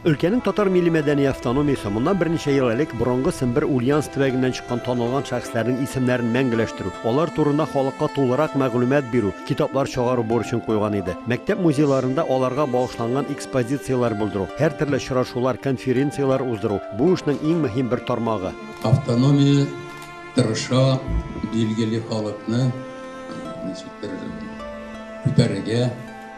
Өлкәнең татар милли-мәдәни автономиясе моннан берничә ел элек борынгы Сембер Ульяновск төбәгеннән чыккан танылган шәхесләрнең исемнәрен мәңгеләштерү, алар турында халыкка тулырак мәгълүмат бирү, китаплар чыгару бурычын куйган иде. Мәктәп музейларында аларга багышланган экспозицияләр булдыру, һәртөрле очрашулар, конференцияләр уздыру, бу эшнең иң мөһим бер тармагы. Автономия тырыша билгеле халыкны ничектер күтәрергә.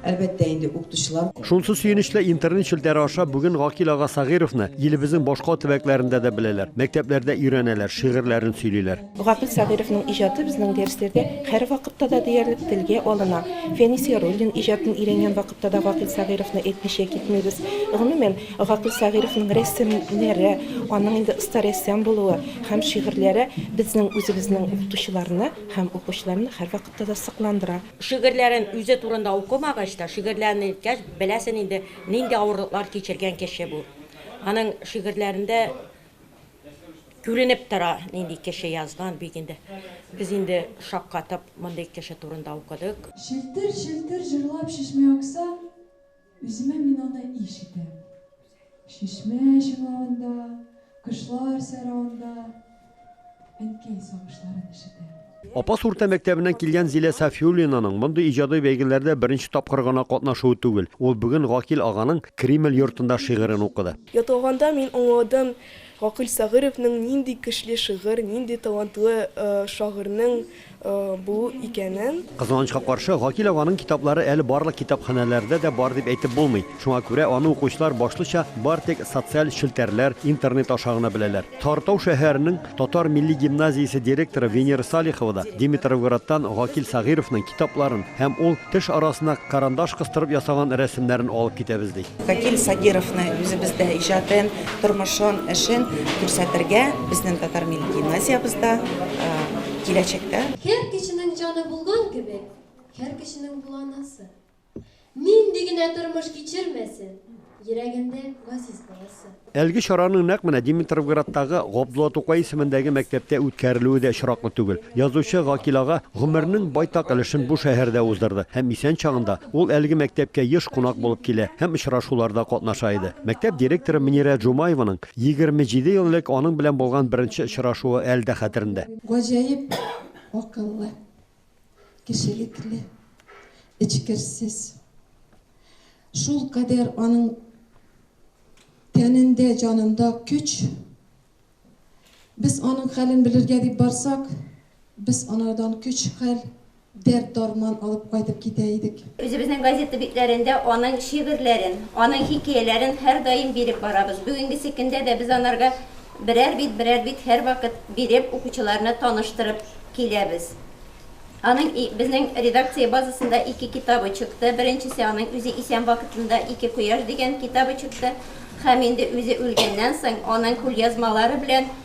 Әлбәттә инде, укытучылар. Шунсы сөенечле, интернет челтәре аша бүген Гакил ага Сәгыйровны илебезнең башка төбәкләрендә дә беләләр, мәктәпләрдә өйрәнәләр, шигырьләрен сөйлиләр. Гакил Сәгыйровның иҗаты безнең дәресләрдә һәрвакытта да диярлек телгә алына. Фәнис Яруллин иҗатын өйрәнгән вакытта да Гакил Сәгыйровны әйтмичә китмибез. Гомумән, Гакил Сәгыйровның рәсемнәре, аның инде оста рәссам булуы һәм шигырьләре безнең үзебезнең укытучыларны һәм укучыларны һәрвакытта да сокландыра. Шигырьләрен үзе турында укымагач та, шигырьләрен әйткәч, беләсен инде, нинди авырлыклар кичергән кеше бу. Аның шигырьләрендә күренеп тора, нинди кеше язган, бик инде. Без инде шаккатып мондый кеше турында укыдык. Челтер-челтер җырлап чишмә акса, Үземә мин аны иш итәм. Чишмә чыңлавында, кошлар сайравында әнкәй сагышларын ишетәм. Апас урта мәктәбеннән килгән Зилә Сафиуллинаның мондый иҗади бәйгеләрдә беренче тапкыр гына катнашуы түгел. Ул бүген Гакил аганың Кремль йортында шигырен укыды. Ятлаганда мин аңладым Гакил Сәгыйровның нинди көчле шигырь, нинди талантлы шагыйрьнең Бу икәнен. Кызганычка каршы, Гакил аганың китаплары әле барлык китапханәләрдә дә бар дип әйтеп булмый. Шуңа күрә аны укучылар башлыча бар тик социаль челтәрләр, интернет аша гына беләләр. Тартау шәһәренең татар милли гимназиясе директоры Венера Салихова да Димитровградтан Гакил Сәгыйровның китапларын һәм ул теш арасына карандаш кыстырып ясаган рәсемнәрен алып китәбез ди. Гакил Сагировны үзебездә иҗатын, тормышын, эшен күрсәтергә безнең татар милли гимназиябездә, киләчәктә. Һәр кешенең җаны булган кебек, һәр кешенең була анасы. Нинди генә тормыш кичермәсен, йөрәгендә газиз баласы. Әлеге чараның нәкъ менә Димитровградтагы Габдулла Тукай исемендәге мәктәптә үткәрелүе дә очраклы түгел. Язучы Гакил ага гомеренең байтак өлешен бу шәһәрдә уздырды һәм исән чагында ул әлеге мәктәпкә еш кунак булып килә һәм очрашуларда катнаша иде. Мәктәп директоры Мөнирә Джумаеваның Егерме җиде ел элек аның белән булган беренче очрашуы әле дә хәтерендә. Гаҗәеп акыллы, кешелекле, эчкерсез. Шулкадәр аның тәнендә, җанында көч. Без аның хәлен белергә дип барсак, без анардан көч-хәл Дәрт-дарман алып кайтып китә идек. Үзебезнең газета битләрендә аның шигырьләрен, аның хикәяләрен һәрдаим биреп барабыз. Бүгенгесе көндә дә без анарга берәр бит, берәр бит һәрвакыт биреп, укучыларны таныштырып киләбез. Аның и, безнең редакция базасында ике китабы чыкты. Беренчесе аның үзе исән вакытында Ике кояш дигән китабы чыкты. Һәм инде үзе үлгәннән соң аның кулъязмалары белән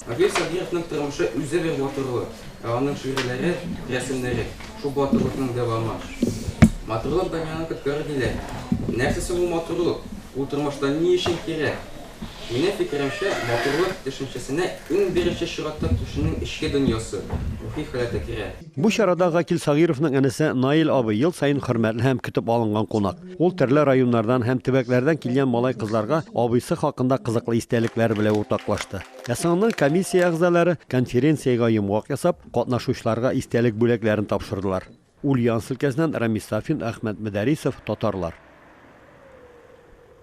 Равил Садриевның тормышы үзе бер матурлык, ә аның шигырьләре, рәсемнәре, шул матурлыкның дәвамы. Матурлык дөньяны коткарыр диләр. Нәрсә соң ул матурлык? Ул тормышта ни өчен кирәк? Минем фикеремчә, матурлык төшенчәсенә иң беренче чиратта кешенең эчке дөньясы, рухи халәте керә. Бу чарада Гакил Сагыйровның энесе Наил абый ел саен хөрмәтле һәм көтеп алынган кунак. Ул төрле районнардан һәм төбәкләрдән килгән малай-кызларга абыйсы хакында кызыклы истәлекләре белән уртаклашты. Ә соңыннан комиссия әгъзалары конференциягә йомгак ясап, катнашучыларга истәлек бүләкләрен тапшырдылар. Ульяновск өлкәсеннән Рамис Сафин, Әхмәт Мөдәрисов, Татарлар.